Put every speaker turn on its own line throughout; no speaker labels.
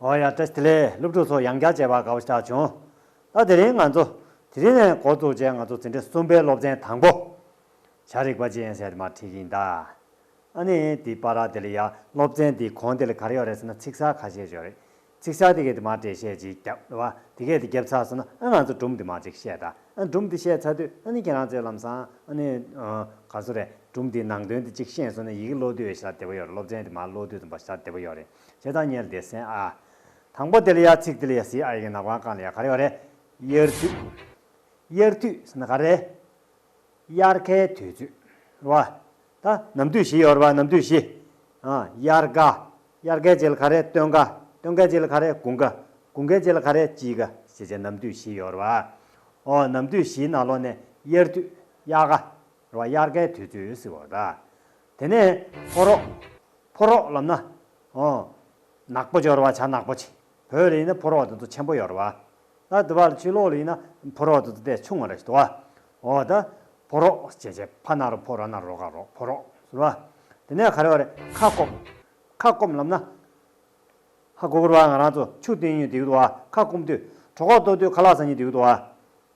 ཨོ་ཡ་ཏྲེ་སི་ལེ་སློབ་ཕྲུག་ཚོ་ཡང་བསྐྱར་མཇལ་བར་དགའ་བོ་ཆགས་བྱུང། ད་དེ་རིང་ང་ཚོ་དེ་རིང་ནས་འགོ་བཙུགས་རྗེས་ང་ཚོ་འཛིན་གྲྭ་གསུམ་པའི་སློབ་ཚན་དང་པོ། བྱ་རིག་པ་ཅི་ཡིན་ཟེར་དེ་མ་བྲིས་ཀྱི་ཡིན་ད། ཨཱ་ནི་དེ་པཱ་ར་དེ་ལ་ཡ་སློབ་ཚན་དེའི་གོང་དེ་ལ་ག་རེ་ཡོད་རེད་ཟེར་ན་ཚིག་གསར་ཁ་ཤས་བྱོས་རེད། ཚིག་གསར་དེ་གས་དེ་མ་བྲིས་བཤད་ཅིག་རྒྱབ་ལ་བ་དེ་གས་དེ་རྒྱབ་ཚར་སོང་ན་ཨ་ང་ཚོ་སྦྲུམ་དེ་མ་ཅིག་བཤད་ད་ཨ་སྦྲུམ་དེ་བཤད་ཚར་དུས་ཨ་ནི་ཁྱེད་རང་ཚོའི་ལམ་སང་ཨ་ནི་ག་ཚོད་རེད་སྦྲུམ་དེའི་ནང་དོན་དེ་ཅིག་ཤེས་སོང་ན་ཡི་གེ་ཀློག་དུས་ཤ་བདེ་པོ་ཡོད་རེད་སློབ་ཚན་དེ་མ་ཀློག་དུས་ཙམ་པ་ཤ་བདེ་པོ་ཡོད་རེད། ཅེས་དང་གཉེར་བདེ་སེན་ཨ། དང་པོ་དེལ་ཡ་ཚིག་དེལ་ཡ་སི་ཨ་ཡི་གི་ནག་པང་ཀང་ལ་ཡ་ག་རེ་བ་རེ། དབྱར་དུས། དབྱར་དུས་སི་ན་ག་རེ། དབྱར་ཁའི་དུས་ཚོད། བ། ད། ནམ་དུས་བཞི་ཡོར་བ་ནམ་དུས་བཞི། ཨ། དབྱར་ཀ། དབྱར་ཀའི་རྗེས་ལ་ག་རེ་སྟོན་ཀ། སྟོན་ཀའི་རྗེས་ལ་ག་རེ་དགུན་ཀ། དགུན་ཀའི་རྗེས་ལ་ག་རེ་དཔྱིད་ཀ་ཞེས་བྱ་ནམ་དུས་བཞི་ཡོར་བ། ཨོ། ནམ་དུས་བཞིའི་ནང་ལོགས་ནས་དབྱར་དུས། དབྱར་ཀ། ར་བ་དབྱར་ཀའི་དུས་ཚོད་སི་བོ་ད། དེ་ནས་ཕོ་རོག། ཕོ་རོག་ལབ་ན། ཨོ། ནག་པོ་སྦྱོར་བ་བྱ་ནག་པོ་བྱེད། བོད་ལ་ཡིན་ན་ཕོ་རོག་དེ་ཚོ་ཆེན་པོ་ཡོར་བ། ད་དུ་བ་ལ་ཆུ་ལོག་ལ་ཡིན་ན་ཕོ་རོག་དེ་ཚོ་དེ་ཆུང་བ་རེ་ཞིག་དུ་བ། ཨོ་ད། ཕོ་རོག་བྱེད་བྱེད་ཕ་ན་རོ་ཕོ་ར་ན་རོ་ག་རོག་ཕོ་རོག་ཟུར་བ། དེ་ནས་ག་རེ་བ་རེ་ཁ་སྐོམ། ཁ་སྐོམ་ལབ་ན། ཧ་སྒོ་གུར་བ་ང་རང་ཚོ་ཆུ་སྟེང་ཉུལ་དེ་ཡུག་དུ་བ་ཁ་སྐོམ་དུས་གྲོ་ཁོག་ལྟོ་དུས་ཁ་ལག་ཚ་ཉིལ་དེ་ཡུག་དུ་བ།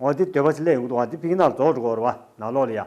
ཨོ་དེ་དོད་པ་ཆེ་ལེ་ཡུག་དུ་བ་དེ་ཕིག་ནག་ལ་རྫོགས་འགྲོ་གོ་རོ་བ་ནག་ལོག་ལ་ཡ།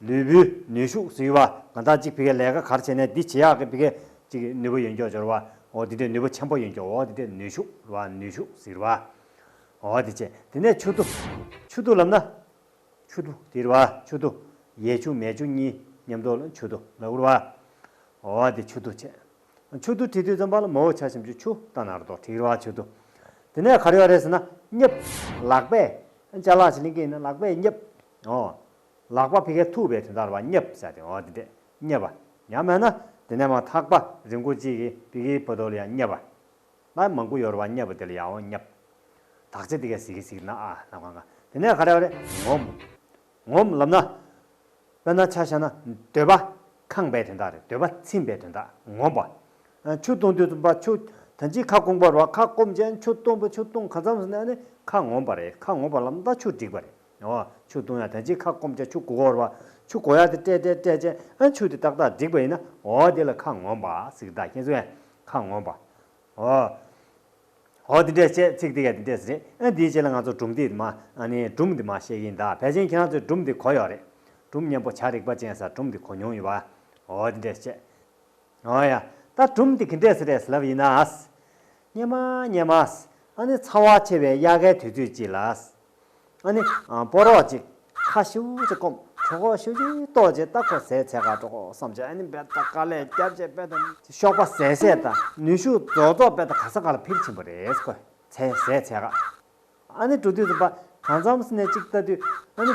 ལུས་པོའི་ནུས་ཤུགས་སུ་ཡུ་བ་ང་དག་ཅིག་བི་ཀའི་ལས་ཀ་གར་བྱེད་ནས་འདི་བྱེད་ཡག་གི་བི་ཀའི་ཅིག་གི་ནུས་པོ་ཡོན་ཀྱོག་འཇོར་བ་འོ་དེ་དེ་ནུས་པོ་ཆེན་པོ་ཡོན་ཀྱོག་འོ་དེ་དེ་ནུས་ཤུགས་རུ་བ་ནུས་ཤུགས་སུ་ཡུ་བ་འོ་དེ་བྱེད་དེ་ནས་ཆུ་དུ་ཆུ་དུ་ལབ་ན་ཆུ་དུ་དེ་རུ་བ་ཆུ་དུ་ཡས་ཆུ་མས་ཆུ་གཉིས་མཉམ་དུ་ལ་ཆུ་དུ་ལ་རུ་བ་འོ་དེ་ཆུ་དུ་བྱེད་ཆུ་དུ་དེ་དུས་ཙམ་པ་ལ་མོའུ་ཆ་ཞིམ་ཆུ་ཆུ་ལྟ་ནར་དོ་དྲིག་རུ་བ་ཆུ་དུ་དེ་ནས་གར་ཡོག་རེད་ཟེར་ན་སྙབ། ལག་པས་ལྕགས་ལག་ཆིག་ལིང་ཀི་ཡིན་ན་ལག་པས་སྙབ། ཨོ། ལག་པ་ཕི་ཁའི་ཐུག་པས་དུས་མཐར་བ་སྙབ་བྱ་སྟེ་ཨོ་དེ་འདྲས་སྙབ་བ། ཡང་མེད་ན། དེ་ནས་མ་ཐག་པ་རི་མགོ་གཅིག་གིས་ཕི་ཁའི་བུ་དོལ་ཡང་སྙབ་བ། ལར་མང་ཀུ་ཡོར་བ་སྙབ་བུ་དེལ་ཡའོ་སྙབ། དག་བྱེད་དེ་ཁའི་ཟིག་གི་ཟིག་ན་ཨ་ལ་མཁའ་མཁའ། དེ་ནས་ཁ་རེ་བ་རེ་ངོམ། ངོམ་ལབ་ན། དཔེར་ན་ཆ་བྱས་ན་འདོད་པ། ཁང་པའི་དོན་དག་རེད་འདོད་པ་ཚིམ་པའི་དོན་དག་ངོམ་པ། ཆུ་བཏུང་དུས་བཏུང་པ་ཆུ། དོན་གཅིག་ཁ་སྐོང་པར་བ་ཁ་སྐོམ་ཅན་ཆུ་བཏུང་བ་ཆུ་བཏུང་གང་མཚམས་སུ་གནས་ནས་ཁ་ངོམ་པ་རེད་ཁ་ངོམ་པ་ལབ་ན་ཆུ་བསྒྲིགས་པ་རེད། ཡང་བ། ཆུ་བཏུང་ཡང་དེ་ཅིག་ཁ་བསྐོམ་བྱ་ཆུ་གོ་བར་བ། ཆུ་གོ་ཡང་དེ་སྤྲད་སྤྲད་སྤྲད་བྱས་ཨ། ཆུ་དེ་ཏག་ཏག་བསྒྲིགས་པ་ཡིན་ན་འོ་དེ་ལ་ཁ་ངོམ་པ་ཚིག་དག་ཁྱེད་ཚོ་ཡང་ཁ་ངོམ་པ། འོ། འོ་དེ་འདྲས་བྱས་ཚིག་དེ་ག་དེ་འདྲས་རེད་ཨ་དེའི་ཆེད་ལ་ང་ཚོ་སྦྲུམ་དེ་མ་ཨ་ནི་སྦྲུམ་དེ་མ་བཤད་གིན་གདའ་བས་ཅན་ཁྱེད་རང་ཚོས་སྦྲུམ་དེ་གོ་ཡོད་རེད། སྦྲུམ་སྙན་པོ་བྱ་རིག་པ་ཅན་ས་སྦྲུམ་དེ་གོ་མྱོང་ཡོད་བ། འོ་དེ་འདྲས་བྱས། འོ་ཡ། ད་སྦྲུམ་དེ་གི་འདྲས་རེད་ལབ་ཡིན་ན། སྙན་མ་སྙན་མ། ཨ་ནི་ཚ་བ་ཆེ་བའི་དབྱར་ཁའི་དུས་ཚོད་ཅིག་ལ། ཨ་ནི། སྤོ་རོགས་ཅིག། ཁ་ཤིའུ་ཅིག་བསྐོམ། གྲོ་གོག་ཤིའུ་ཅིག་ལྟོགས་ཅེས་ལྟ་ཁོ་ཟས་ཚད་ཁ་དཀྲོག་གོ་བསམ་བྱས་ཨ་ནི་འབད་ད་ག་ལས་རྒྱབ་ཅེས་འབད་ད། གཤོག་པ་ཟད་ཟད་ད། ནུས་ཤུགས་རྫོགས་རྫོགས་འབད་ད་ག་ས་ག་ལ་ཕིར་ཕྱིན་པོ་རེད་ཁོས་ཟས་ཟས་ཚད་ཁ། ཨ་ནི་འགྲོ་དུས་སུ་འབའ་ག་མཚམས་སུ་ནས་ཅིག་ལྟ་དུས། ཨ་ནི།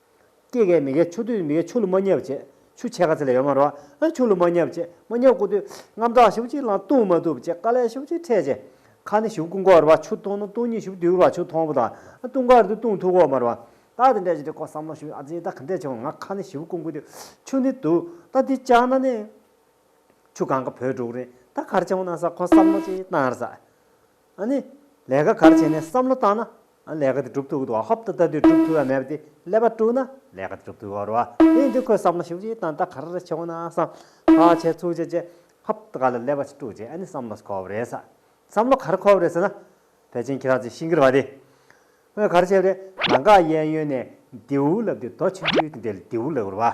སྐྱེས་གས་མི་གས་ཆུ་དུས་མི་གས་ཆུ་ལུ་མ་ཉབ་བྱེད་ཆུ་ཆད་ཁ་ཚེ་ལས་ཡོ་མ་རོ། ཆུ་ལུ་མ་ཉབ་བྱེད་མ་ཉབ་སྐུ་དུས་རྔམ་དྲག་ཞུགས་ཅིག་ལང་ལྟུང་མ་བཏུབ་བྱེད་ཀ་ལས་ཞུགས་ཅིག་འཕྲད་བྱེད། ཁ་ནི་ཞུགས་སྐུ་འགོ་རུ་བ་ཆུ་ལྟུང་ནི་ལྟུང་ཉིད་ཞུགས་དུས་རུ་བ་ཆུ་ཐོང་བུ་དང་ལྟུང་ག་རུ་དུས་ལྟུང་ཐུག་འོག་མ་རུ་བ། རྟགས་དེ་འདྲ་ཅི་རེད་ཀོ་བསམ་བློ་ཞུགས་ཨ་ཙི་ད་ག་འདྲས་བྱུང་ང་ཁ་ནི་ཞུགས་སྐུ་འགོ་དུས་ཆུ་ནི་དུ་ད་འདི་ལྕགས་ན་ནི། ཆུ་གང་ག་བོད་འབྲུག་རི་ད་གར་བྱུང་ན་ས་ཁོ་བསམ་བློ་ཅིག་བཏང་ར་ས། ཨ་ནི། ལས་ཀ་གར་བྱས་ནས་བསམ་བློ་བཏང་ན། ཨ་ནི་ལས་ཀ་དེ་སྒྲུབ་ཐུབ་ཀྱི་འདུག་ཨ་ཧོབ་ཏུ་ལྟ་དུས་སྒྲུབ་ཐུབ་ཡ་མེད་པ་དེ་ཀླད་པ་དཀྲུགས་ན་ལས་ཀ་དེ་སྒྲུབ་ཐུབ་ཀྱི་རོ། དེ་ཡིན་དུས་ཁོས་བསམ་བློ་ཞིབ་ཅིག་བཏང་ད་ག་རེ་རེ་བྱེད་འོང་ན་བསམ། བག་ཆེ་ཚུགས་ཆེ་བྱས། ཧབ་ཏུ་ག་ལ་ཀླད་པ་ཞིག་དཀྲུགས་རྗེས་ཨ་ནི་བསམ་བློ་འཁོར་བ་རེད་ས། བསམ་བློ་ག་རེ་འཁོར་བ་རེད་ཟེར་ན། བལ་ཆེན་ཁྱི་རག་ཅིག་ཤི་འགྱུར་བ་དེ། ངས་ག་རེ་བྱས་པ་རེད། ལ་འགག་གཡས་གཡོན་ནས་རྡེའུ་ལབ་དུས་རྡོ་ཆུ་ཆུ་དེ་འདེད་རྡེའུ་ལེགས་པོར་བ།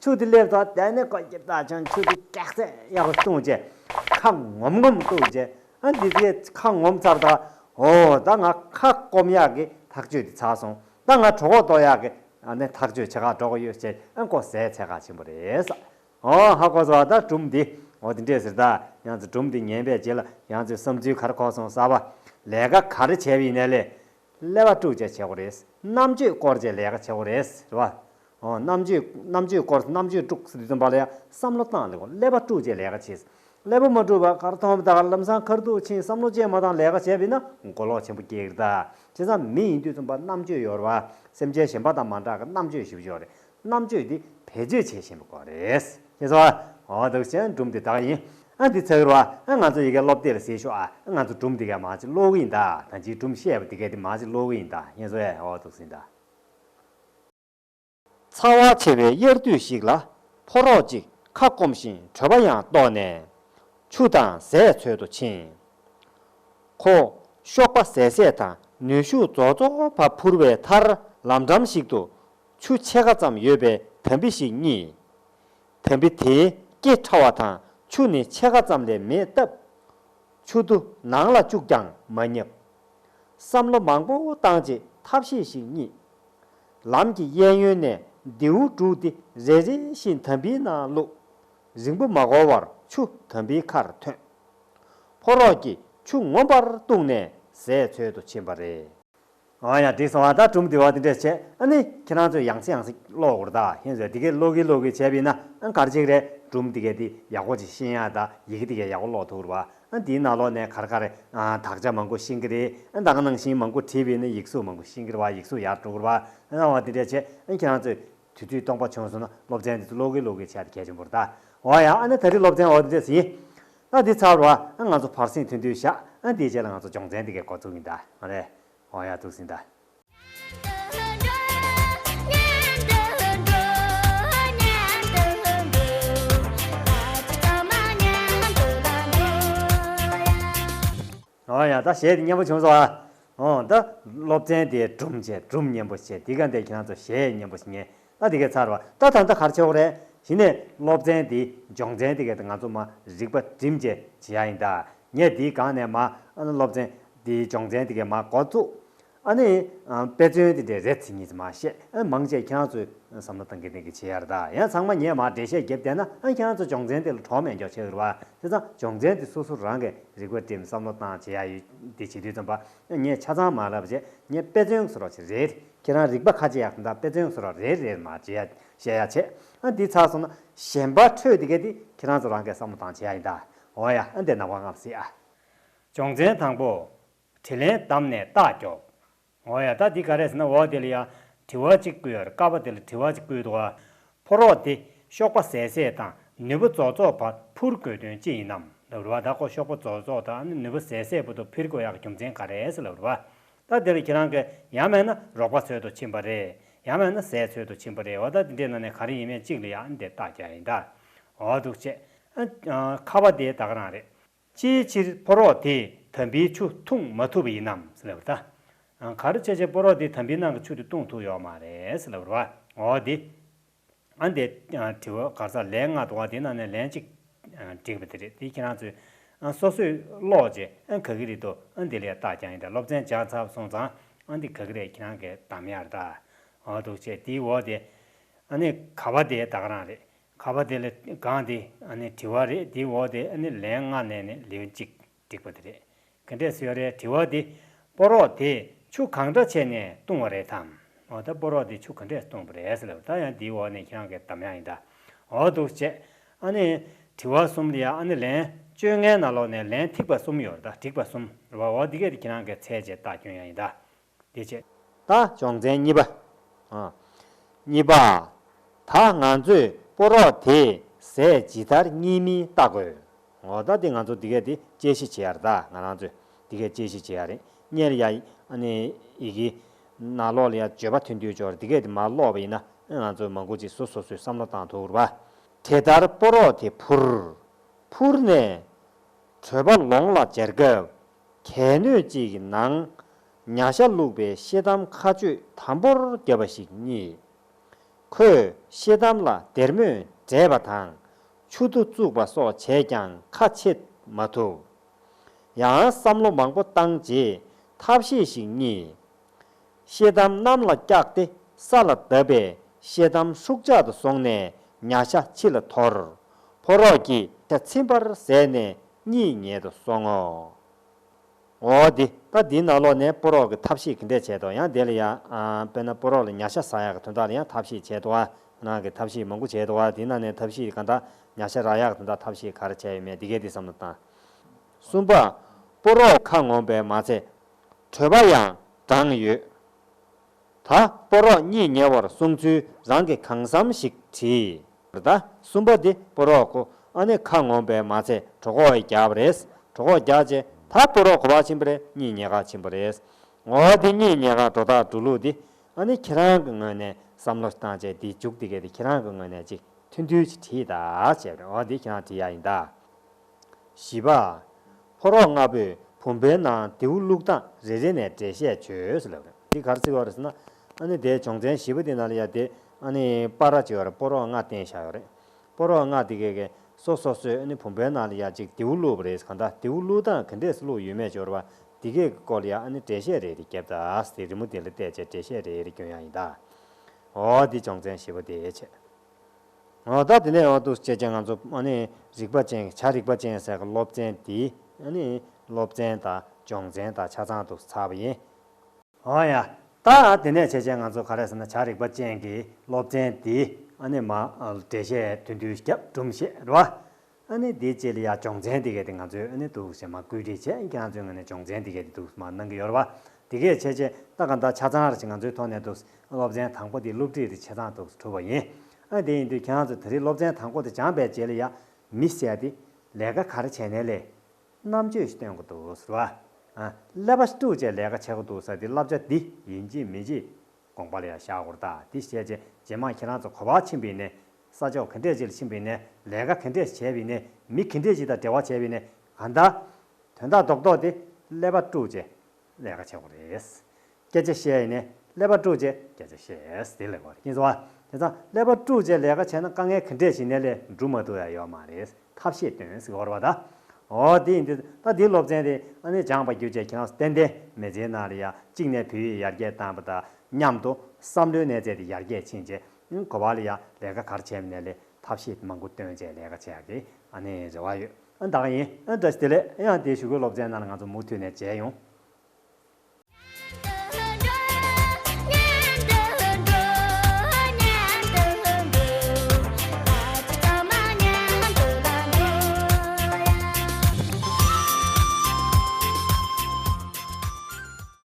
ཆུ་དེ་སླེབས་ཐོག་དེ་ནས་ཁོ་གྱིས་ད་ཆུང་ཆུ་དེ་ཀེག་ཚད་གཡག་རུ་བཏུངས་རྗེས་ཁ་ངོམ་ངོམ་བཏུགས་རྗེས་ཨ་འདི་ཚོའི་ཁ་ངོམ་ཚར་ད། ཨོ་ད་ང་ཁ་སྐོམ་གཡག་གི་ཐག་གཅོད་དེ་ཚར་སོང་ད་ང་གྲོ་ཁོག་དོག་གཡག་གི་ཐག་གཅོད་བྱེད་ཁག་འགྲོ་གི་ཡོད་ཅེས་ཨ་མགོ་ཟས་ཚད་ཁག་ཆེན་པོ་རེད། ཨོ་ཧ་གོ་ཟོ་ད་གྲུམ་འདི་ཨོ་དེ་འདྲས་ཟེར་ད་གཡང་ཚོ་གྲུམ་འདི་ཉན་པའི་རྗེས་ལ་གཡང་ཚོའི་བསམ་ཚུལ་གར་ཁོག་སོང་གསར་བ་ལས་ཀ་ག་རེ་བྱས་པ་ཡིན་ནས་ལས་ལས་བ་དྲུག་བཅས་བྱེད་དགོས་རེད། རྣམ་དཔྱོད་སྐོར་བཅས་ལས་ཀ་བྱེད་དགོས་རེད། རེད་བ། རྣམ་དཔྱོད། རྣམ་དཔྱོད་སྐོར་རྣམ་དཔྱོད་དཀྲུག་ཟིན་པ་ལ་ཡང་བསམ་བློ་བཏང་ལེ་དགོས་ལས་བ་དཀྲུག་བཅས་ལས་ཀ་བྱེད། ལས་བ་མ་དཀྲུག་པར་ཁར་ཐོག་མཐའ་བར་ལམ་སང་ཁར་དུག་ཕྱིན་བསམ་བློ་བཅས་མ་བཏང་ལས་ཀ་བྱས་པས་ན་མགོ་ལོག་ཆེན་པོ་སྐྱེ་གི་རེད་ད། བྱས་ཙང་མི་ཡིན་དུས་རྩོམ་པ་རྣམ་དཔྱོད་ཡོད་རེད་བ། སེམས་ཅན་གཞན་པ་དང་མ་འདྲ་གི་རྣམ་དཔྱོད་ཞིབ་ཆོག་རེད། རྣམ་དཔྱོད་འདི་བེད་སྤྱོད་བྱེད་བཞིན་པ་ཀོ་རེད། ཁྱེད་ཚོ། འོ་འདུག་བཤད་སྒྲུབ་འདི་དག་ཡིན། ཨ་འདི་ཚགས་རོ་ཨ་ང་ཚོ་ཡི་གེ་སློབ་དེབ་ལ་གཟིགས་ཤོག་ཨ་ང་ཚོ་སྒྲུབ་འདི་གས་མ་གཅིག་ཀློག་གི་ཡིན་ད་ད་འཇིག་སྒྲུབ་བཤད་པ་འདི་གས་དེ་མ་གཅིག་ཀློག་གི་ཡིན་ད་ཁྱེད་ཚོ་ཨེ་འོ་འདུག་ཟིན་ད། ཚ་བ་ཆེ་བའི་དབྱར་དུས་ཤིག་ལ། ཕོ་རོག་ཅིག་ཁ་སྐོམ་བཞིན་བྲོས་པ་ཡང་ལྟོགས་ནས། ཆུ་དང་ཟས་འཚོལ་དུ་ཕྱིན། ཁོ། གཤོག་པ་ཟད་ཟད་དང་ནུས་ཤུགས་རྫོགས་རྫོགས་བ་འཕུར་བའི་མཐར་ལམ་འགྲམ་ཞིག་ཏུ་ཆུ་ཕྱེད་ཀ་ཙམ་ཡོད་པའི་དམ་བི་ཞིག་རྙེད། དམ་བི་དེའི་སྐེ་ཕྲ་བ་དང་ཆུ་ནི་ཕྱེད་ཀ་ཙམ་ལས་མེད་སྟབས། ཆུ་རྡོ་ནང་ལ་བཅུག་ཀྱང་མ་རྙེད། བསམ་བློ་མང་པོ་བཏང་རྗེས་ཐབས་ཤེས་ཤིག་རྙེད། ལམ་གྱི་གཡས་གཡོན་ནས་མདེའུ་དཀྲུགས་ཏེ་རེ་རེ་བཞིན་དམ་བིའི་ནང་བླུགས། རིང་པོ་མ་འགོར་བར་ཆུ་དམ་བིའི་ཁར་ཐོན། ཕོ་རོག་གིས་ཆུ་ངོམས་པར་ལྟུང་ནས་ཟས་འཚོལ་དུ་ཕྱིན་པ་རེད། ཨང་ཡང་དེང་སང་བ་ད་གྲུམ་དེ་བ་དེ་འདྲས་བྱས་ཨ་ནི་ཁྱེད་རང་ཚོས་ཡང་སེ་ཡང་སེ་ཀློག་གོ་ར་ད་ཧེན་ཟེར་དེ་གས་ཀློག་གིན་ཀློག་གིན་བྱས་པིན་ན་ཨང་གར་ཅིག་རེད་གྲུམ་དེ་གས་དེ་ཡག་པོ་ཅིག་ཤེས་ཡང་ད་ཡི་གེ་དེ་གས་ཡག་པོ་ཀློག་ཐུག་ར་བ་ཨང་དེའི་ནང་ལོག་ནས་གར་གར་རེད་ཨང་དག་ཆ་མང་པོ་ཤེས་གིན་རེད་ཨང་དག་ནང་བཞིན་མང་པོ་བྲིས་པིན་ན་ཡིག་གཟུགས་མང་པོ་ཤེས་གིན་ར་བ་ཡིག་གཟུགས་ཡར་འགྲོ་གོ་ར་བ་ཨང་བ་དེ་འདྲས་བྱས་ཨང་ཁྱེད་རང་ཚོས། དུས་དུས་སྟོང་པ་བྱུང་སོང་ན་སློབ་ཚན་འདི་ཚོ་ཀློག་གི་ཀློག་གི་བྱས་ཏེ་གལ་ཆེན་པོར་གདའ། འོ་ཡ་ཨ་ནི་ད་རིས་སློབ་ཚན་འོག་ཏུ་འདེད་སྲིད་ཡིན། ཨ་འདི་ཚར་བ་ཨ་ང་ཚོ་བར་གསེང་ཐོན་དུས་བཞག་ཨ་འདིའི་རྗེས་ལ་ང་ཚོ་སྦྱོང་ཚན་འདི་གའི་གོ་ཐུག་ཡིན་གདའ། མ་རེད། འོ་ཡ་ཐུགས་ཟིན་གདའ། ཡང་དག་བྱས་ཏེ་གཉེན་པོ་བྱུང་སོ། འོང་དུ་སློབ་ཚན་དེ་སྒྲུབ་བྱས་སྒྲུབ་གཉེན་པོ་བྱས་འདི་ག་འདས་ཁྱེད་རང་ཚོ་ཞེས་གཉེན་པོ་ངེས་ན་འདི་གའི་ཚར་བ་ད་ད་ད་གར་ཆོག་རེ་བྱིན་ནས་སློབ་ཚན་འདི་སྦྱོང་ཚན་འདི་ག་ང་ཚོ་མ་རིག་པ་དྲིན་བྱས་བྱེད་ཡ་ཡིན་ད་ངས་འདི་གང་ནས་མ་སློབ་ཚན་འདི་སྦྱོང་ཚན་འདི་ག་མ་གོ་ཚུགས་ཨ་ནི། དཔེ་མཚོན་དེ་འདྲའི་རེད་ཚིག་གཉིས་ཙམ་མ་བཤད། མང་ཆེ་ཁྱེད་རང་ཚོས་བསམ་བློ་གཏང་གི་འདེང་གི་བྱེད་ཡར་ད་ཡང་ཚང་མ་ངས་མར་འགྲེལ་བཤད་བརྒྱབ་བསྡད་ན་ཁྱེད་རང་ཚོ་སྦྱོང་ཚན་དེ་ལ་གྲོགས་མེད་མགྱོགས་བྱེད་འུར་བ་དེ་ཚང་སྦྱོང་ཚན་དེ་སོ་སོ་རང་གི་རིག་པ་སྒྲིམ་བསམ་བློ་གཏང་བྱེད་ཡ་ཡོད་དེ་བྱེད་དུས་ཙམ་པ་ངས་ཆ་ཚང་མ་ལབ་རྗེས་ངས་དཔེ་མཚོན་བཟོ་རོགས་བྱེད་རེད་ཁྱེད་རང་རིག་པ་ཁ་ཇེ་ཡག་ཙམ་དང་དཔེ་མཚོན་བཟོ་རོགས་རེད་རེད་མ་བྱེད་ཡ་བཤད་ཡ་བྱེད་ཨ་འདི་ཚར་སོང་ན་གཞན་པ་འཕྲོས་དེ་གས་དེ་ཁྱེད་རང་ཚོ་རང་གས་བསམ་བློ་གཏང་བྱེད་ཡ་ཡིན་ད་འོ་ཡ་ཨ་འདི་ནང་པ་ངམ་སྲིད་ཨ། སྦྱོང་ཚན་དང་པོ། དྲིས་ལན་གདམས་ནས་རྟགས་རྒྱོབ། ངོ་ཡ་ད་འདི་ག་རེད་ཟེར་ན་འོ་དེ་ལ་ཡང་དྲི་བ་གཅིག་བསྐུལ་ཡར་ཀ་བ་དེ་ལ་དྲི་བ་གཅིག་བསྐུལ་འདུག་ཨ། ཕོ་རོག་འདི་གཤོག་པ་ཟད་ཟད་དང་ནུས་པ་རྫོགས་རྫོགས་བར་འཕུར་དགོས་དོན་ཅི་ཡིན་ནམ་ལབ་རེ་བ་ད་ཁོ་གཤོག་པ་རྫོགས་རྫོགས་དང་ནུས་པ་ཟད་ཟད་བུ་དོ་ཕིར་གོ་ཡག་རྒྱུ་མཚན་ག་རེད་ལབ་རེ་བ། ད་དེ་ལ་ཁྱེད་རང་གི་ཡང་མེད་ན་རོགས་པ་འཚོལ་དུ་ཕྱིན་པ་རེད་ཡང་མེད་ན་ཟས་འཚོལ་དུ་ཕྱིན་པ་རེད་བ་ད་དེ་འདྲའི་ནང་ནས་ག་རེ་ཡིན་མེད་གཅིག་ལ་ཡང་འདི་རྟགས་རྒྱག་ཡིན་ད་འོ་འདུག་ཆེ། ཨ། ཁ་བ་དེ་ད་ག་རང་རེད། ཅིའི་ཕྱིར་ཕོ་རོག་དེས་དམ་བིའི་ཆུ་འཐུང་མ་ཐུབ་པ་ཡིན་ནམ་ཞེས་པར། གར་ཆེ་ཆེ་ཕོ་རོག་དེས་དམ་བིའི་ནང་གི་ཆུ་དེ་བཏུང་ཐུབ་ཡོད་མ་རེད་ཞེས་པར། འོ་དེ། ཨ་འདས། དྲི་བ་གར་ས་ལའི་མངལ་དུ་བ་དེའི་ནང་ནས་ལན་གཅིག། བསྒྲིགས་པ་དེ་རེད་དེ་ཁྱེད་རང་ཚོས། སོ་སོས་ཀློག་རྗེས་ཨ་ག་གི་རེད་དོ་ཨ་འདི་ལས་རྟགས་ཀྱང་ཡིན་དྲ་སློབ་ཚན་སྦྱངས་ཚར་སོང་ཙང་ཨ་འདི་ག་གི་རེད་ཁྱེད་རང་གིས་གདམ་ཡར་ད། འོ་འདུག་བྱས་དེའི་འོ་དེ། ཨ་ནི་ག་བ་དེའི་བདག་རང་རེད། ཁ་བ་དེ་ལ་དགང་སྟེ་བྲི་བ་རེད་དེའི་འོག་དེ་ལན་ལྔ་བསྣན་ནས་ལེའུ་གཅིག་བསྒྲིགས་པ་དེ་རེད། གན་དྷའི་སོས་རའི་བྲི་བ་དེ་སྤོ་རོག་དེས་ཆུ་གང་འདྲ་བྱས་ནས་བཏུང་བ་རེད་དམ། འོ་ད་སྤོ་རོག་དེས་ཆུ་ག་འདྲས་བཏུང་བ་རེད་ཟེར་ལབ་ད་ཡང་དེའི་འོག་ནས་ཁྱེད་རང་གི་གདམས་ཡང་ཡིན་ད་འོག་འདུག་བཅས་བྲི་བ་གསུམ་ལ་ཡང་ལན་བཅོ་ལྔའི་ནང་ལོགས་ནས་ལན་ཐིག་པ་གསུམ་ཡོད་རེད་ད་བསྒྲིགས་པ་གསུམ་རེད་བ་འོ་དེ་གས་ཁྱེད་རང་གི་ཚད་བཅས་བཏགས་སྐྱོན་ཡང་ཡིན་ད། བདེ་བྱེད། དང་སྦྱོང་ཚན་གཉིས་པ། གཉིས་པ། ད་ང་ཚོས་སྤོ་རོགས་དེ་ཟས་ཇི་ལྟར་རྙིད་མིན་བལྟ་དགོས། ངོ་ད་དེ་ང་ཚོ་འདི་སྐད་དེ་དཔྱད་གཞི་བྱེད་ཡར་ད་ང་རང་ཚོས་འདི་སྐད་དཔྱད་གཞི་བྱེད་ཡ་རེད་གཉེར་ཡ་ཨ་ནི་ཡི་གི། ན་ལོག་ལ་ཡ་བརྗོད་པ་ཐུན་དུས་སྦྱོར་འདི་སྐད་དེ་མ་ལོག་པ་ཡིན་ན་ཨེ་ང་ཚོས་མ་མགོ་ཅིག་སུ་སོ་སོས་བསམ་བློ་བཏང་ཐུག་ར། དེ་ལྟར་སྤོ་རོགས་དེ་འཕུར། འཕུར་ནས། བྲོས་པ་ལོང་ལ་འཇལ་སྐབས་གལ་སྣོད་ཅིག་གི་ནང་ཉྭ་ཤ་བླུགས་པའི་ཤེལ་དམ་མཁའ་སྤྱོད་དམ་པོར་བརྒྱབ་པ་ཞིག་རྙེད། ཁོས་ཤེལ་དམ་ལ་སྡེར་མོས་འདྲེས་པ་དང་མཆུ་རྡོ་བཙུགས་པ་སོགས་བྱས་ཀྱང་ཁ་ཕྱེ་མ་ཐུབ། ཡང་བསམ་བློ་མང་པོ་བཏང་རྗེས་ཐབས་ཤེས་ཤིག་རྙེད། ཤེལ་དམ་གནམ་ལ་བཀྱགས་ཏེ་ས་ལ་བརྡབས་པས་ཤེལ་དམ་ཧྲུག་ཆག་ཏུ་སོང་ནས་ཉྭ་ཤ་ཕྱི་ལ་འཐོར། ཕོ་རོག་གིས་ཤ་ཚིམ་པར་ཟད་ནས་གཉིད་ཉལ་དུ་སོང་ངོ། འོ་དེ་ད་འདིའི་ནང་ལོགས་ནས་སྤོ་རོགས་ཀྱི་ཐབས་ཤེས་གི་འདྲས་བྱས་ཏོ་ཡང་དེ་ལ་ཡ་དཔེར་ན་སྤོ་རོགས་ལ་ཉྭ་ཤ་ཟ་ཡག་གི་དོན་དག་ལ་ཡང་ཐབས་ཤེས་བྱས་ཏོ་ཨ་ནང་གི་ཐབས་ཤེས་མང་པོ་བྱས་ཏོ་ཨ་དེ་ནང་ནས་ཐབས་ཤེས་གང་དག་ཉྭ་ཤ་རག་ཡག་དོན་དག་ཐབས་ཤེས་ག་རེ་བྱས་ཡོད་མེད་འདི་གས་འདི་བསམ་བློ་བཏང། གསུམ་པ། སྤོ་རོགས་ཁ་ངོམ་པའི་མ་ཚད། གྲོད་པ་ཡང་བགྲངས་ཡོད། ད་པོ་རོག་གཉིས་ཉེ་བར་གསུང་ཚུལ་རང་གི་གང་བསམ་ཞིག་བྲིས། ད་གསུམ་པ་འདི་པོ་རོག་གོ་ཨ་ནི་ཁ་ངོམ་པའི་མ་ཚད་གྲོ་ཁོག་ཡི་རྒྱག་པ་རེད་གྲོ་ཁོག་རྒྱག་རྗེས་ད་པོ་རོག་གོ་བ་ཆེན་པོ་རེད་གཉིས་ཉེ་ག་ཆེན་པོ་རེད་ངོ་འདི་གཉིས་ཉེ་ག་འགྲོ་ཐག་འགྲོ་ལུགས་འདི་ཨ་ནི་ཁྱེད་རང་གི་ངོས་ནས་བསམ་བློ་བཏང་རྗེས་འདི་འཇུག་འདི་གས་འདི་ཁྱེད་རང་གི་ངོས་ནས་ཅིག་མཐུན་འཐུན་ཅིག་བྲིས་ད་ཅེས་པ་རེད་འོ་འདི་ཁྱེད་རང་བྲིས་ཡ་ཡིན་ད། བཞི་པ། ཕོ་རོག་ལྔ་པོས་བུམ་པའི་ནང་མདེའུ་བླུགས་སྟངས་རེ་རེ་ནས་འགྲེལ་བཤད་བྱོས། འདི་གར་བརྩི་བ་རེད་ཟེར་ན། ཨ་ནི་དེའི་བྱུང་ཚན་བཞི་པོ་དེ་ན་ལ་ཡ་དེ་ཨ་ནི་པ་ར་བྱེད་བར་ཕོ་རོག་ལྔ་བསྟན་བཞག་ཡོད་རེད། ཕོ་རོག་ལྔ་དེ་གས་གས་སོ་སོ་སོས་ཨ་ནི་བུམ་པའི་ནང་ལ་ཡ་གཅིག་མདེའུ་བླུགས་པ་རེད་གང་ལྟར་མདེའུ་བླུགས་སྟངས་ག་འདྲས་སུ་བླུགས་ཡོད་མེད་འབྱོར་བ་འདི་གས་ཀྱི་སྐོར་ལ་ཡ་ཨ་ནི་འགྲེལ་བཤད་རེ་རེ་བརྒྱབ་སྟངས་དེ་རི་མོ་དེ་ལ་བལྟས་བྱས་འགྲེལ་བཤད་རེ་རེ་བསྐྱོན་ཡག་ཡིན་ད། འོ་འདི་བྱུང་ཚན་བཞི་པོ་དེའི་ཆེད། ང་བདག་དེ་ནས་འོང་འདུག་ཅེས་ཀྱང་ང་ཚོ་རིག་པ་ཅན་བྱ་རིག་པ་ཅན་ཟེར་གི་སློབ་ཚན་འདི་སློབ་ཚན་དང་སྦྱོང་ཚན་དང་ཆ་ཚང་དུ་ཚར་བ་ཡིན། འོང་ཡ། ད་དེ་ནས་བྱས་ཀྱང་ང་ཚོ་ག་རེ་ཟེར་ན་བྱ་རིག་པ་ཅན་གྱི་སློབ་ཚན་འདི་མ་འབྲེལ་བཤད་དུས་དུས་སྐྱབས་སྦྲུམ་བཤད་རོ། ཨ་ནེ་དེ་བཅས་ལ་ཡང་སྦྱོང་ཚན་དེ་གས་དེ་ང་ཚོའི་ཨ་ནེ་འདུག་ཞེས་མ་སྐུལ་ཁྲིད་བྱས་ཀྱང་ང་ཚོའི་ངོས་ནས་སྦྱོང་ཚན་དེ་གས་དེ་འདུག་མ་གནང་གི་ཡོད་རེད་བ། དེ་གས་བྱས་རྗེས་ད་ག་འདྲ་ཆ་ཚང་རེད་ཅེས་ང་ཚོའི་ཐོག་ནས་འདུག་སློབ་ཚན་དང་པོ་དེ་སློབ་ཁྲིད་དེ་བྱེད་སྟངས་འདུག་གྲུབ་བ་ཡིན། ཨ་དེ་ཡིན་དུས་ཁྱེད་རང་ཚོ་དེ་རིང་སློབ་ཚན་དང་པོ་དེ་སྦྱངས་པའི་རྗེས་ལ་ཡང་མི་བསད་དེ། ལས་ཀ་ག་རེ་བྱས་ནས་ལས། རྣམ་དཔྱོད་ཞིག་སྟོན་གི་འདུག་ཟེར་བ། ཀླད་པ་ཞིག་དཀྲུགས་བཅས་ལས་ཀ་བྱེད་གི་འདུག་ས་དེ་བསླབ་བྱ་འདི་ཡིན་གྱི་མིན་གྱི། དགོངས་པ་ལ་ཡང་ཞག་ཧུར་ཐག་དེ་བཤད་རྗེས་རྗེས་མ་ཁྱེད་རང་ཚོ་གོ་བ་ཆེན་པོ་ཡིན་ནས་ས་ཕྱོགས་ག་འདྲས་ཅིར་ཕྱིན་པའི་ནས་ལས་ཀ་ག་འདྲས་བྱས་པའི་ནས་མི་ག་འདྲས་ཅི་དང་འབྲེལ་བ་བྱས་པའི་ནས་ག་འདྲ། དོན་དག་རྡོག་རྡོག་དེ་ཀླད་པ་དཀྲུགས་རྗེས་ལས་ཀ་བྱེད་དགོས་རེད། སྐད་ཆ་བཤད་ཡི་ནས་ཀླད་པ་དཀྲུགས་རྗེས་སྐད་ཆ་བཤད་དེ་ལས་ཀ་བ་རེད་ཀྱིན་སོང་བ། དེ་ཚང་ཀླད་པ་དཀྲུགས་རྗེས་ལས་ཀ་བྱས་ན་དཀའ་ངལ་ག་འདྲས་ཞིག་ནས་ལས་འགྲུབ་མ་ཐུབ་ཡ་ཡོད་མ་རེད་ཐབས་ཤེས་སྟོན་ཟིག་ཧོར་བ་ད། ཨོ་དེ་ཡིན་དུས་ད་དེའི་སློབ་ཚན་དེ་ཨ་ནེ་སྦྱངས་པ་བརྒྱུད་བཅས་ཁྱེད་རང་ཏན་ཏན་མེ་ལྕེའི་ནང་ལ་ཡ་གཅིག་ནས་བུ་ཡིས་ཡར་རྒྱས་བཏང་བ་དང་མཉམ་དུ་བསམ་བློའི་གནས་ཚད་དེ་ཡར་རྒྱས་ཕྱིན་རྗེས་ཡུན་གོ་བ་ལ་ཡང་ལས་ཀ་གར་བྱས་ནས་ལས་ཐབས་ཤེས་མང་པོ་བཏོན་རྗེས་ལས་ཀ་བྱས་ཀྱི་ཨ་ནི་རེ་བ་ཡོད་ཨ་འདག་ཡིན་ཨ་འདྲ་ཞིག་དེ་ལས་ཡང་དེ་ཞུ་གོ་སློབ་ཚན་རྣམས་ང་ཚོ་མུ་མཐུད་ནས་བྱས་ཡོང།